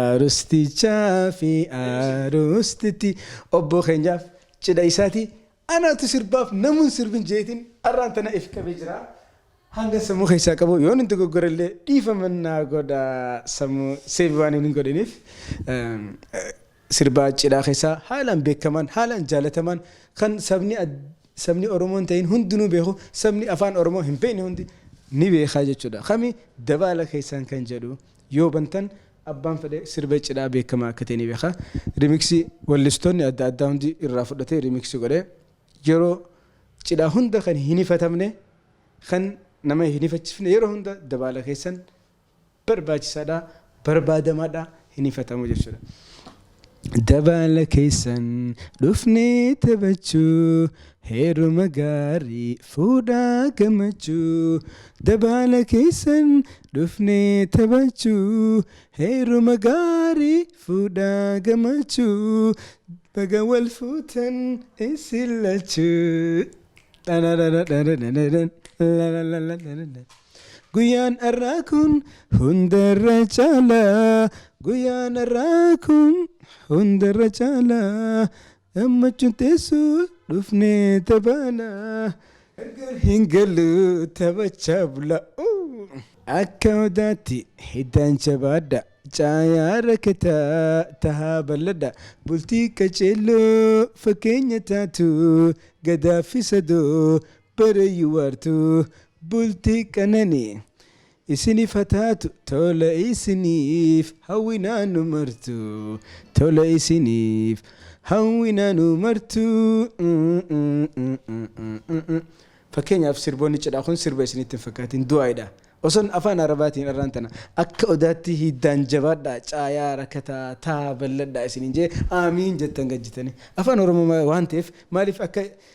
Arustichaa fi arustitti obbo keenyaaf cidha isaati anaatu sirbaaf namuun sirbin jeetiin arraan tana if qabee jira. Hanga sammuu keessaa qabu yoon hin dogoggore illee dhiifama naa godha sammuu seevi waan hin godhiniif sirbaa cidhaa keessaa haalaan beekamaan haalaan jaalatamaan kan sabni Sabni Oromoo hin ta'iin hundinuu beeku, sabni Afaan Oromoo hin beekne hundi ni beeka jechuudha. Kami dabaala keessaan kan jedhu yoo bantan abbaan fedhe sirba cidhaa beekamaa akka ta'e ni beeka. Remix wallistoonni adda addaa hundi irraa fudhatee remix godhe. Yeroo cidhaa hunda kan hin hifatamne, kan nama hin hifachifne yeroo hunda dabaala keessan barbaachisaadha, barbaadamadha, hin hifatamu jechuudha. Dabaala keessan dhufnee taphachuu heeruma gaarii fuudhaa gammachuu dabaala keessan dhufnee taphachuu heeruma gaarii fuudhaa gammachuu baga wal fuutan isin lachuu. Guyyaan arraa kun hundarra caala Guyyaan arraa kun hundarra caala Gammachuun teessoo dhufnee tabaala Gargar hin gallu taphachaa bula Akka odaatti hiddaan jabaadha Caayaa rakkataa tahaa bal'adha Bultii qaceelloo fakkeenya taatu Gadaa fi sadoo Bara yuwartu bulti qanani isinif ha taatu tola isinif hawina nu martu tola isinif hawina nu martu Fakkeenyaaf sirboonni cidhaa kun sirba isinitti hin fakkaatin du'aaidha oson afaan arabaatiin arraan tana akka odaatti hiiddaan jabaadhaa caayaa rakataa taa balladhaa isiniin jee aamiin jettan gad jetanii afaan oromoo waan ta'eef maaliif akka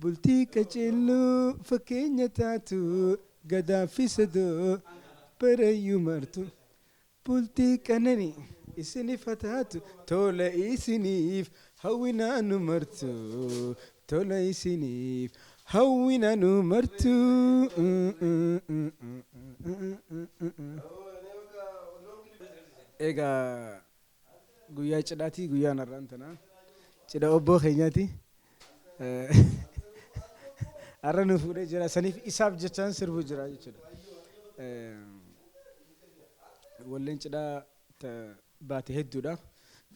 Bultii qacelluu fakkeenya taatu Gadaa fi Sadoo barayyuu martu Bultii qananii isinif ha taatu Tola isiniif hawwinaa nu martu Tola isiniif hawwinaa nu martu Egaa. Guyyaa cidhaati guyyaan har'aan tanaa. Cidha obboo keenyaati. Har'a nu fuudhee jira. Saniif isaaf jechaan sirbu jira jechuudha. Walleen cidhaa baate hedduudha.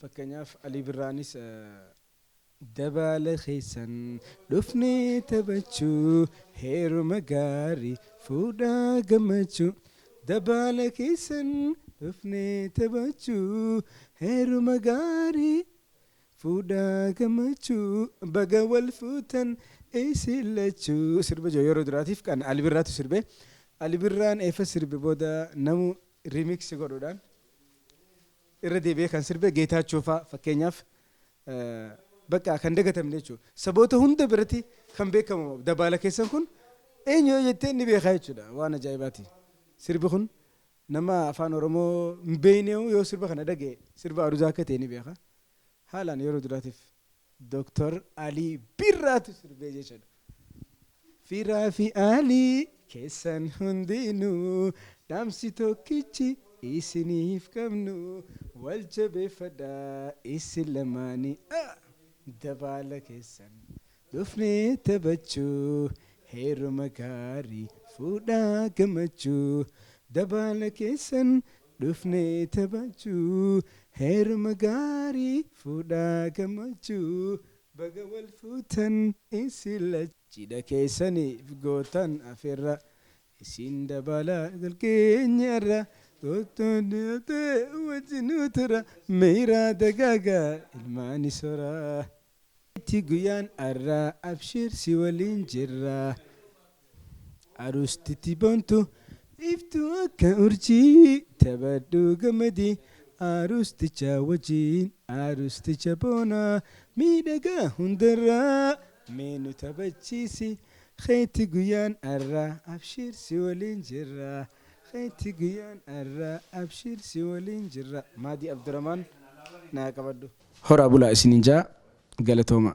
Fakkeenyaaf Alii Birraanis Dabaala keessan dhufnee taphachuu heeruma gaarii fuudhaa gammachuu Dabaala keessan dhufnee taphachuu heeruma gaarii fuudhaa gammachuu Baga wal fuutan isin lachuu Sirba jiru yeroo duraatiif kan Ali Birraatu sirbe Ali Birraan eeffa sirbe booda namu remix godhuudhaan irra deebi'ee kan sirbe Geetaachoo faa fakkeenyaaf baqqaa kan dagatamne jechuudha. Saboota hunda biratti kan beekamu dabaala keessan kun eenyu yoo jetteen ni beekaa jechuudha. Waan ajaa'ibaati. Sirbi kun nama afaan Oromoo hin beekne yoo sirba kana dhaga'e sirba Aruzaa akka ta'e ni beeka. Haalaan yeroo duraatiif Doktar Alii Birraatu sirbee jechuudha. Firaa fi Alii keessan hundinuu dhaamsi tokkichi isiniif qabnu wal jabeeffadhaa isin lamaanii ah! Dabaala keessan dhufnee taphachuu heeruma gaarii fuudhaa gammachuu Dabaala keessan Dhufnee taphachuu heeruma gaarii fuudhaa gammachuu baga wal fuutan isin lachuu. Cidha keessaniif gootan afeerra isin dabala galgeenyi arra kottu dhiyaadha wajji nu tura miiraa dagaaga ilmaani sora. Miti guyyaan arraa abshiir si waliin jirra Aruustiti boontu iftu akka urjii Taphadhu gammadi Aruusticha wajjin Aruusticha boona miidhagaa hundarraa Mee nu taphachiisi Keeti guyyaan arraa abshiir si waliin jirra Keeti guyyaan arraa abshiir si waliin jirra Maadii Abduramaan naa qabadhu. Horaa bulaa isinin jaa galatoomaa.